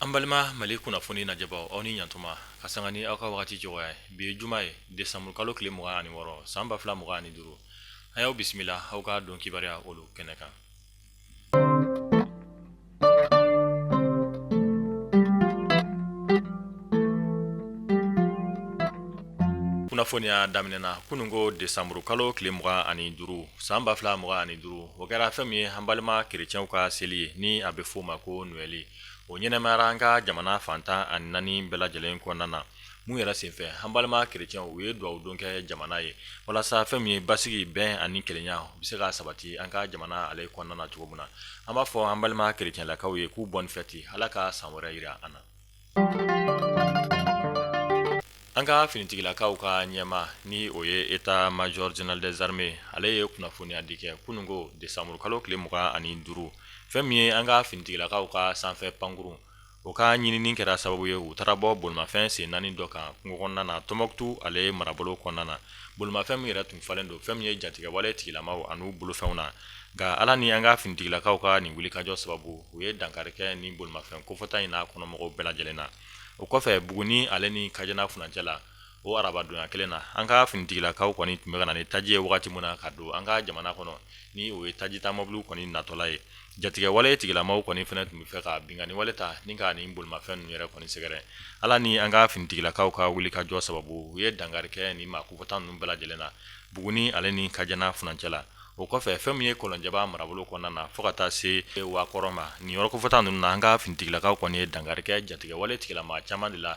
an balima mali kunnafoni najɛbaaw aw ni ɲantuma ka sanga ni aw ka wagati cogoya ye bi ye juma ye desanburu kalo tile mugan ani wɔɔrɔ san ba fila mugan ani duuru an y'aw bisimila aw ka don kibaruya olu kɛnɛ kan kunnafoniya daminɛ na kunun ko desanburu kalo tile mugan ani duuru san ba fila mugan ani duuru o kɛra fɛn min ye an balima kerecɛnw ka seli ye ni a bɛ f'o ma ko Noël o ɲɛnamayara an ka jamana fan tan ani naani bɛɛ lajɛlen kɔnɔna na mun yɛrɛ senfɛ an balima kerecɛnw u ye dugawu don kɛ jamana ye walasa fɛn min ye basigi bɛn ani kelenya u bɛ se ka sabati an ka jamana ale kɔnɔna na cogo min na an b'a fɔ an balima kerecɛnlakaw ye k'u bonne fête ala ka san wɛrɛ yira an na an ka finitigilakaw ka ɲɛmaa ni o ye état major général des armées ale ye kunnafoniya di kɛ kunun ko desanburu kalo tile mugan ani duuru fɛn min ye an ka finitigilakaw ka sanfɛ pankurun o ka ɲinini kɛra sababu ye u taara bɔ bolimafɛn sen naani dɔ kan kungo kɔnɔna na tɔnbɔkutu ale marabolo kɔnɔna na bolimafɛn min yɛrɛ tun falen don fɛn min ye jatigɛwale tigilamaw an'u bolofɛnw na nka ala ni an ka finitigilakaw ka nin wulikajɔ sababu u ye dankari kɛ ni bolimafɛn kofɔta in n'a kɔnɔmɔgɔw bɛɛ lajɛlen na o kɔfɛ buguni ale ni kajana furancɛ la o arabadonya kelen na an ka finitigilakaw kɔni tun bɛ ka na ni taji ye wagati min na ka don an ka jamana kɔnɔ ni o ye tajita mobiliw kɔni natɔla ye jatigɛwale tigilamaw kɔni fɛnɛ tun bɛ fɛ ka binkanni wale ta ni ka nin bolimafɛn ninnu yɛrɛ kɔni sɛgɛrɛ ala ni an ka finitigilakaw ka wulikajɔ sababu u ye dankari kɛ ni maa kofɔta ninnu bɛɛ lajɛlen na buguni ale ni kajana furancɛ la o kɔfɛ fɛn min ye kɔlɔnjɛba marabolo kɔnɔna na fo ka taa se wakɔrɔ ma nin yɔrɔ kofɔta ninnu na an ka finitigilakaw kɔni ye dankari kɛ jatigɛwale tigilama caman de la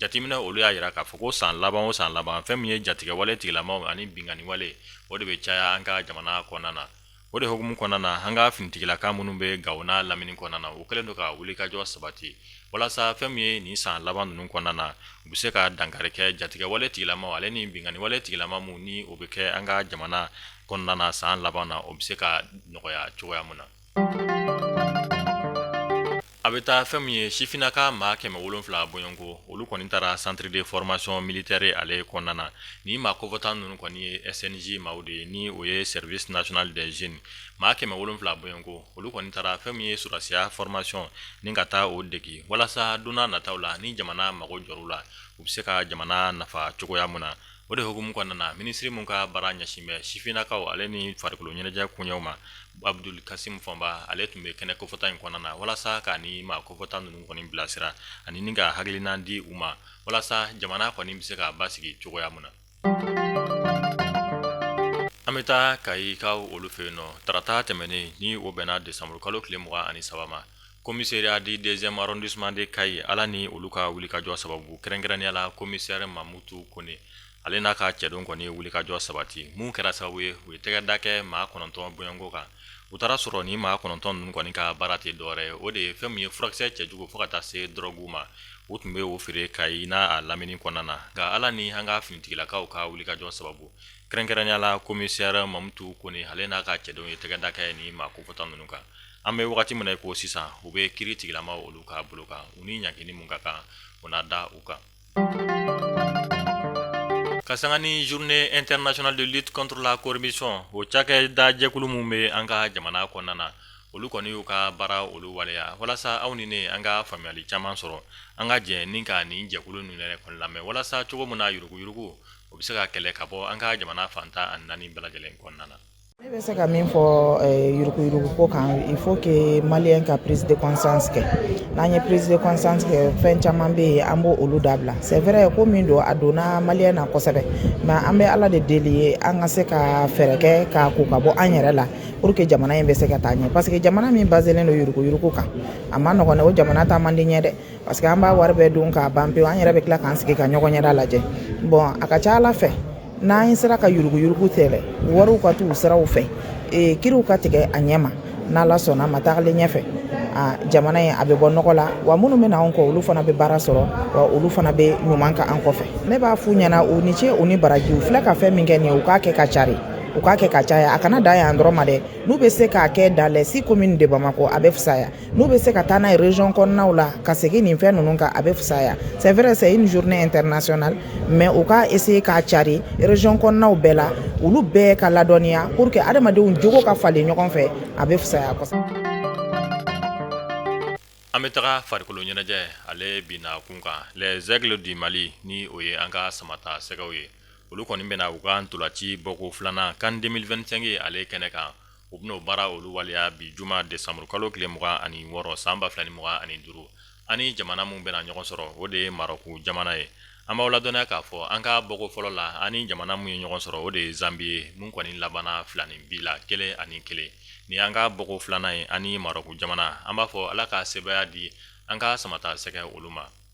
jateminɛ olu y'a yira k'a fɔ ko san laban o san laban fɛn min ye jatigɛwale tigilamaw ani binkanniwale o de bɛ caya an ka jamana kɔnɔna na o de hukumu kɔnɔna na an ka finitigilaka minnu bɛ gawo n'a lamini kɔnɔna na u kɛlen don ka wulikajɔ sabati walasa fɛn min ye nin san laban ninnu kɔnɔna na u bɛ se ka dankari kɛ jatigɛwale tigilamaw ale ni binkanniwale tigilama minnu ni o bɛ kɛ an ka jamana kɔnɔna na san laban na o bɛ se ka nɔgɔya cogoya min na A bɛ taa fɛn min ye sifinnaka maa kɛmɛ wolonfila bɔɲɔgɔnko olu kɔni taara centre de formation militaire ale kɔnɔna na ni maa kofɔta ninnu kɔni ye SNJ maaw de ye ni o ye service national des jeunes maa kɛmɛ wolonfila bɔɲɔgɔnko olu kɔni taara fɛn min ye sɔrɔdasiya formation ni ka taa o dege walasa donna nataw la ni jamana mago jɔr'u la u bɛ se ka jamana nafa cogoya min na o de hukumu kɔnɔna na minisiri min ka baara ɲɛsin bɛ sifinnakaw ale ni farikolo ɲɛnajɛ kuɲɛw ma abdul kasimu fɔnba ale tun bɛ kɛnɛ kofɔta in kɔnɔna na walasa ka ni maa kofɔta ninnu kɔni bilasira ani ni ka hakilina di u ma walasa jamana kɔni bɛ se ka basigi cogoya min na an bɛ taa kayikaw olu fɛ yen nɔ tarata tɛmɛnen ni o bɛnna desanburu kalo tile mugan ani saba commissariat du deuxième arrondissement de kayi ala ni olu ka wulikajɔ sababu kɛrɛnkɛrɛnnenya la komisɛri mamutu kɔnɛ ale n'a ka cɛden kɔni ye wulikajɔ sabati min kɛra sababu ye u ye tɛgɛ da kɛ maa kɔnɔntɔn bɔɲɔgɔnko kan u taara sɔrɔ ni maa kɔnɔntɔn ninnu kɔni ka baara tɛ dɔwɛrɛ ye o de ye fɛn min ye furakisɛ cɛjugu fo ka taa se dɔrɔgu ma u tun bɛ o feere kayi n'a lamini kɔnɔna na nka ala ni an ka finitigilakaw ka wulikajɔ sababu kɛrɛnkɛrɛnnenya la komisɛri mamutu kɔnɛ ale n'a ka cɛdenw ye tɛgɛ da kɛ ni maa kofɔta ninnu kan an bɛ wagati min na ko sisan u bɛ kiri tigɛlamaw olu ka bolo kan u ni ɲangini min ka kan u na da u kan ka sanga ni journée internationale de lutte contre la corruption o cakɛda jɛkulu minnu bɛ an ka jamana kɔnɔna na olu kɔni y'u ka baara olu waleya walasa aw ni ne an ka faamuyali caman sɔrɔ an ka jɛ ni ka nin jɛkulu ninnu yɛrɛ kɔni lamɛn walasa cogo min na yuruguyurugu o bɛ se ka kɛlɛ ka bɔ an ka jamana fan tan ani naani bɛɛ lajɛlen kɔnɔna na ne bɛ se ka min fɔ eh, yuruguyurugu ko kan il faut que maliyɛn ka prise de conscience kɛ n'an ye prise de conscience kɛ fɛn caman bɛ yen an b'olu dabila c'est vrai ko min don a donna maliyɛn na kosɛbɛ mais an bɛ ala de deli ye an ka se ka fɛɛrɛ kɛ k'a ko ka bɔ an yɛrɛ la pour que jamana in bɛ se ka taa ɲɛ parce que jamana min baselen don yuruguyurugu kan a ma nɔgɔn dɛ o jamana taa man di ɲɛ dɛ parce que an b'a wari bɛɛ dun k'a ban pewu an yɛrɛ bɛ tila k'an sigi ka ɲɔgɔn ɲɛda lajɛ bon a ka ca ala fɛ n'an sera ka yuruguyurugu kɛlɛ wariw ka t'u siraw fɛ ee kiriw ka tigɛ a ɲɛ ma n'ala sɔnna ma tagalen ɲɛfɛ jamana ye a bɛ bɔ nɔgɔ la wa minnu bɛ na anw kɔ olu fana bɛ baara sɔrɔ wa olu fana bɛ ɲuman kɛ an kɔfɛ ne b'a f'u ɲɛna u ni ce u ni baraji u filɛ ka fɛn min kɛ nin ye u k'a kɛ ka cari u k'a kɛ ka caya a kana dan yan dɔrɔn ma dɛ n'u bɛ se k'a kɛ dans les six communes de bamakɔ a bɛ fisaya n'u bɛ se ka taa n'a ye région kɔnɔnaw la ka segin nin fɛn ninnu kan a bɛ fisaya c'est vrai c'est une journée internationale mais u ka essayer k'a cari région kɔnɔnaw bɛɛ la olu bɛɛ ka ladɔnniya pour que adamadenw jogo ka falen ɲɔgɔn fɛ a bɛ fisaya kosɛbɛ. An bɛ taga farikolo ɲɛnajɛ ale binna kun kan les aigles du Mali ni o ye an ka samata sɛgɛw ye olu kɔni bɛna u ka ntolaci bɔko filanan CAN 2025 ale kɛnɛ kan. u bɛn'o baara olu waleya bi juma desanburu kalo tile mugan ani wɔɔrɔ san ba fila ni mugan ani duuru an ni jamana min bɛna ɲɔgɔn sɔrɔ o de ye marɔku jamana ye an b'aw ladɔnniya k'a fɔ an ka bɔko fɔlɔ la an ni jamana min ye ɲɔgɔn sɔrɔ o de ye zanbi ye min kɔni labanna filaninbin na kelen ani kelen ni an ka bɔko filanan ye an ni marɔku jamana an b'a fɔ ala ka sebaaya di an ka samata sɛgɛ olu ma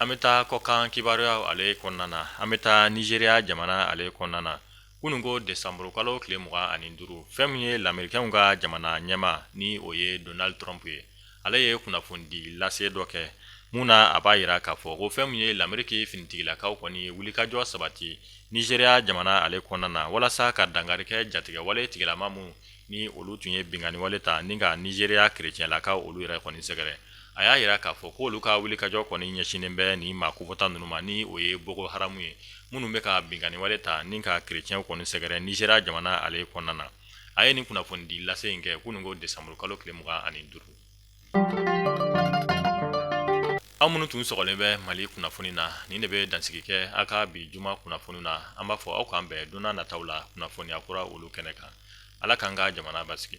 an bɛ taa kɔkan kibaruya ale kɔnɔna na an bɛ taa nizeriya jamana ale kɔnɔna na kunun ko desanburukalo tile mugan ani duuru fɛn min ye lamerikɛnw ka jamana ɲɛmaa ni o ye donald trump ye ale ye kunnafoni di lase dɔ kɛ mun na a b'a jira k'a fɔ ko fɛn min ye lameriki finitigilakaw kɔni ye wulikajɔ sabati nizeriya jamana ale kɔnɔna na walasa ka dankari kɛ jatigɛwale tigilama minnu ni olu tun ye binkanni wale ta ni ka nizeriya kerecɛnlakaw olu yɛrɛ kɔni sɛgɛrɛ a y'a jira k'a fɔ ko olu ka wulikajɔ kɔni ɲɛsinnen bɛ nin maa kofɔta ninnu ma ni o ye boko haramu ye minnu bɛ ka binkanni wale ta ni ka kerecɛnw kɔni sɛgɛrɛ nizeriya jamana ale kɔnɔna na a ye nin kunnafoni di lase in kɛ kunun ko desanburukalo tile mugan ani duuru Aw minnu tun sɔgɔlen bɛ mali kunnafoni na nin de bɛ dansigi kɛ aw ka bi juma kunnafoni na an b'a fɔ aw k'an bɛn don nataw la kunnafoniya kura olu kɛnɛ kan ala k'an ka jamana basigi